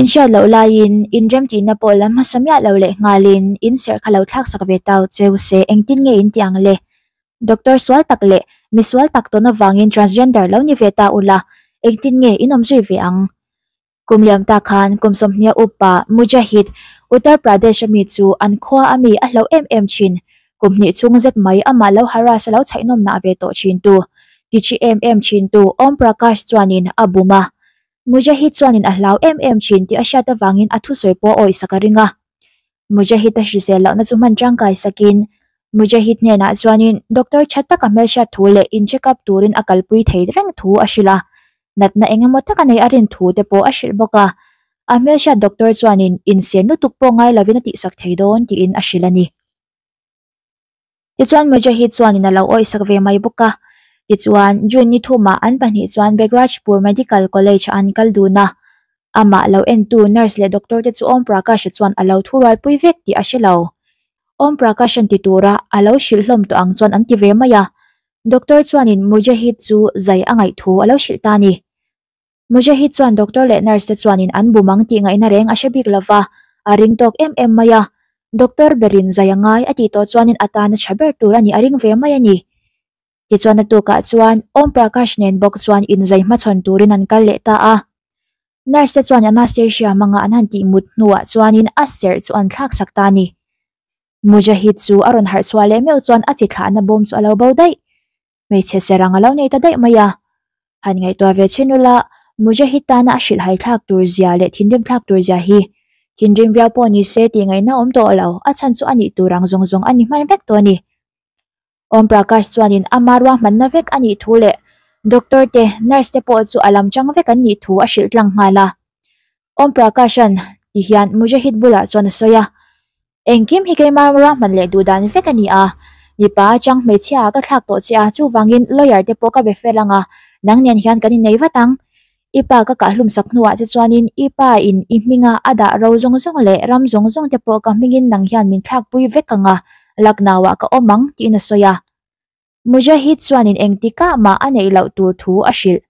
In hriat loh laiin in remtihna pawh lam hmasa miah lo leh nghalin in serh kha lo thlak sak ve ta u che u se, engtin nge in tih ang le? Doctor sual tak leh mi sual tak tawn avangin transgender lo ni ve ta ula, engtin nge in awm zui ve ang? Kum liam ta khan kum sawmhnia upa Mujahid, Uttar Pradesh a mi chu an khua a mi a hlo em em thin. Kum hnih chung zet mai amah lo harass a lo chhaihnawmna a ve tawh thintu, tichi em em thintu Om Prakash chuanin a bum a. Mujahid chuanin a hlau em em thin tih a hriat avangin a thusawi pawh a awihsak a ring a. Mujahid a hrisel lohna chu hman tangkai sakin Mujahid hnenah chuanin doctor tha taka hmelhriat thu leh in check up turin a kalpui thei reng thu a hrilh a. Natna engemaw taka nei a rin thu te pawh a hrilh bawk a. A hmelhriat doctor chuanin in sen lutuk pawh ngai lovin a tihsak thei dawn tiin a hrilh a ni. Tichuan Mujahid chuanin a lo awihsak ve mai bawk a. Tichuan June ni thumah an pahnih chuan Begrajpur Medical College-ah an kal dun a. Amah lo entu nurse leh doctor te chu Om Prakash-a chuan a lo thu rualpui vek tih a hre lo. Om Prakash-a ti tura a lo hrilh hlawm tawh ang chuan an ti ve mai a. Doctor chuanin Mujahid chu zai a ngaih thu a lo hrilh ta a ni. Mujahid chuan doctor leh nurse te chuanin an bum ang tih ngaihna reng a hre bik lo va, a ring tawk em em mai a. Doctor berin zai a ngai a tih tawh chuanin a tan a tha ber tur a ni, a ring ve mai a ni. Tichuan a tukah chuan Om Prakash nen bawk chuan inzai hmachhawn turin an kal leh ta a. Nurse te chuan anastasia hmanga an han tih mut hnuah chuanin a serh chu an thlaksak ta a ni. Mujahid chu a rawn harh chhuah leh meuh chuan a chithlahna bawm chu a lo bo daih. hmeichhe serh ang a lo nei ta daih mai a, han ngaihtuah ve chin ula, Mujahid-tana a hrilh haithlak tur zia leh thinrim thlak tur zia hi thinrim viau pawh ni se tih ngaihna awm tawh a lo, a chhan chu a nih tur ang zawng zawng a ni hman vek tawh a ni. Om Prakash chuanin a hma ruahmanna vek a nih thu leh doctor te, nurse te pawh chu a lam chang vek an nih thu a hrilh tlang nghal a, Om Prakash-an ti hian Mujahid bulah chuan a sawi a, Engkim hi keimah ruah hman leh duh dan vek a ni a, mipa atang hmeichhia ka thlak tawh che a, chuvangin lawyer te pawh ka be fel ang a, nang nen hian kan innei vat ang. I pa ka kahlum sak hnuah che chuanin i pa in i hminga a dah ro zawng zawng leh ram zawng zawng te pawh ka hmingin nang hian min thlakpui vek ang a, laknauah ka awm ang tiin a sawi a. Mujahid chuanin engtikah mah a neih loh tur thu a hrilh.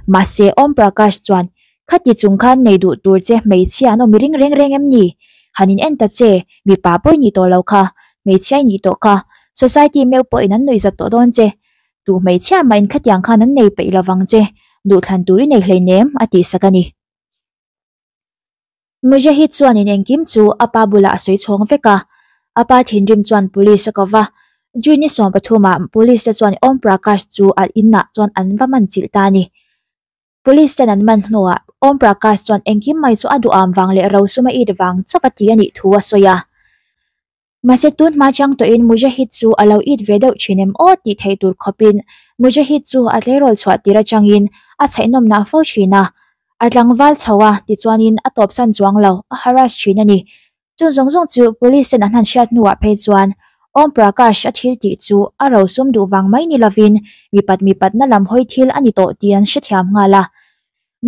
Mahse, Om Prakash chuan, Khati chung khan nei duh tur che hmeichhia an awmi ring reng reng em ni? Han in en ta che, mipa pawh i nih tawh lo kha, hmeichhia i nih tawh kha, society meuh pawhin an nuihzat tawh dawn che. Duh hmeichhia mahin khatiang khan an nei peih lovang che, duhthlan tur i nei hleinem, a tihsak a ni. Mujahid chuanin engkim chu a pa bulah a sawi chhawng vek a, a pa thinrim chuan police a kawva. June ni sawm pathuma police te chuan Om Prakash chu a inah chuan an va man chilh ta a ni. Police ten an man hnuah Om Prakash chuan engkim mai chu a duham vang leh rosuma it vang chauh a ti a nih thu a sawi a. Mahse tun hma chang tawhin Mujahid chu a lo it ve deuh thin em aw tih theih tur khawpin Mujahid chu a tleirawl chhuah tir atangin a chhaihnawmna fo thin a, a tlangval chho a tichuanin a tawpsan chuang lo a harass thin a ni. Chun zawng zawng chu Police-ten an han hriat hnuah phei chuan Om Prakash a thil tih chu a rosum duh vang mai ni lovin mi pat mi patna lam hawi thil a ni tawh tih an hrethiam nghal a.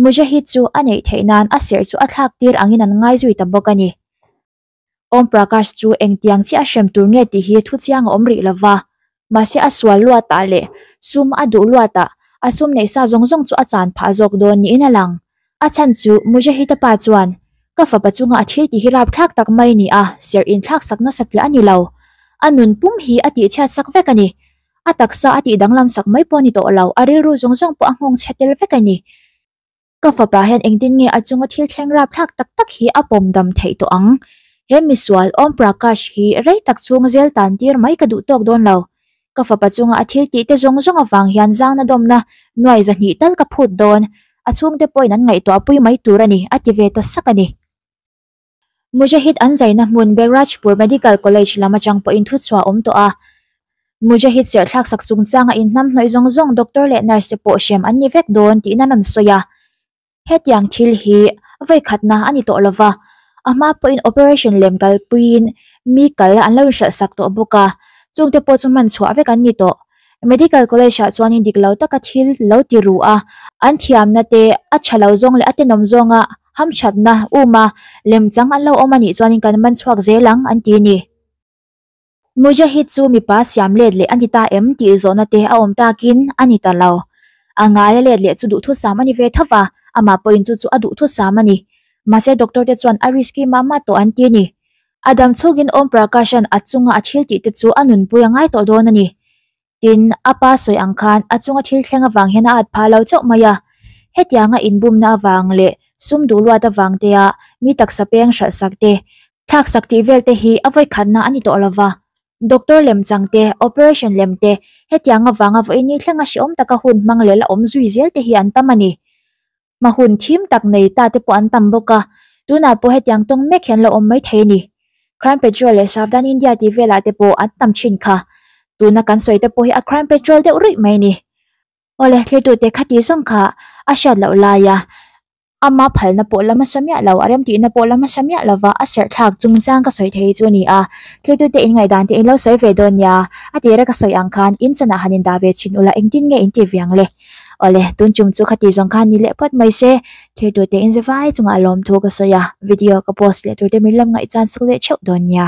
Mujahid chu a neih theih nan a serh chu a thlak tir angin an ngai zui ta bawk a ni. Om Prakash chu engtiang chiah a hrem tur nge tih hi thu chiang a awm rih lo va, mahse a sual luatah leh sum a duh luatah a sum neih sa zawng zawng chu a chan phah zawk dawn niin a lang. A chhan chu Mujahid-a pa chuan, Ka fapa chunga a thil tih hi rapthlak tak mai ni a, serh inthlaksak nasa tliah a ni lo. A nunpum hi a tihchhiat sak vek a ni. A taksa a tih danglamsak mai pawh a ni tawh lo, a rilru zawng zawng pawh a nghawngchhe tel vek a ni. Ka fapa hian engtin nge a chunga thil thleng rapthlak tak tak hi a pawm dam theih tawh ang? He misual Om Prakash hi rei tak chhung zel tan tir mai ka duh tawk dawn lo. Ka fapa chunga a thil tihte zawng zawng avang hian zangna dawmna nuai zahnih tal ka phut dawn. A chhungte pawhin an ngaihtuah pui mai tur a ni, a ti ve ta sak a ni. Mujahid an zaina hmun Behrajpur Medical College lam atang pawhin thu chhuah a awm tawh a. Mujahid serthlak sak chung changa inhnamhnawih zawng zawng doctor leh nurse te pawh hrem an ni vek dawn tiin an rawn sawi a. Hetiang thil hi a vawikhatna a ni tawh lo va, a hma pawhin operation lem kalpuiin mi kal an lo inhralhsak tawh bawk a, chungte pawh chu hman chhuah vek an ni tawh. Medical College ah chuan in dik lo taka thil lo ti ruh a, an thiamna te, a tha lo zawng leh a tenawm zawnga hamthatna uma lem chang an lo awm a nih chuan in kan man chhuak zel ang an ti ni. Mujahid chu mipa siam let leh a ni ta em tih zawhna te a awm tak in a ni ta lo. A ngai a let leh chu duhthusam a ni ve thauh a, amah pawhin chu chu a duhthusam a ni. Mahse doctor te chuan a risky mah mah tawh an ti ni. A dam chhukin Om Prakash-a'n a chunga a thil tihte chu a nunpui a ngai tawh dawn a ni. Tin, a pa sawi ang khan a chunga thil thleng avang hian a at phah lo chauh mai a. Hetianga inbumna avang leh sum duh luat avang teia mi taksa peng hralh sak te, thlak sak tih vel te hi a vawikhatna a ni tawh lo va. Doctor lem chang te, operation lem te, hetiang avanga vawiin ni thleng a hreawm taka hun hmang leh la awm zui zel te hi an tam a ni. Hma hun thim tak nei ta te pawh an tam bawk a, tunah pawh hetiang tawng mek hi an lo awm mai thei a ni. Crime Patrol leh Savdhan India tih velah te pawh an tam thin kha. Tuna kan sawi te pawh hi a Crime Patrol deuh ruih mai a ni. Awle, thlertute khati zawng kha a hriat loh lai a, ama phalna pawh la hmasa miah lo, a remtihna pawh la hmasa miah lo va, a serhthlak chungchang ka sawi thei hi chu a ni a. Thlertute in ngaihdan te in lo sawi ve dawn nia, a tira ka sawi ang khan in chanah han indah ve chhin ula engtin nge in ti viang le? Awle, tun tum chu khati zawng khan ni leh phawt mai se, thlir tur te in ze vai chungah a lawm thu ka sawi a, video ka post leh tur te min lam ngaih chuan suk leh theuh dawn nia.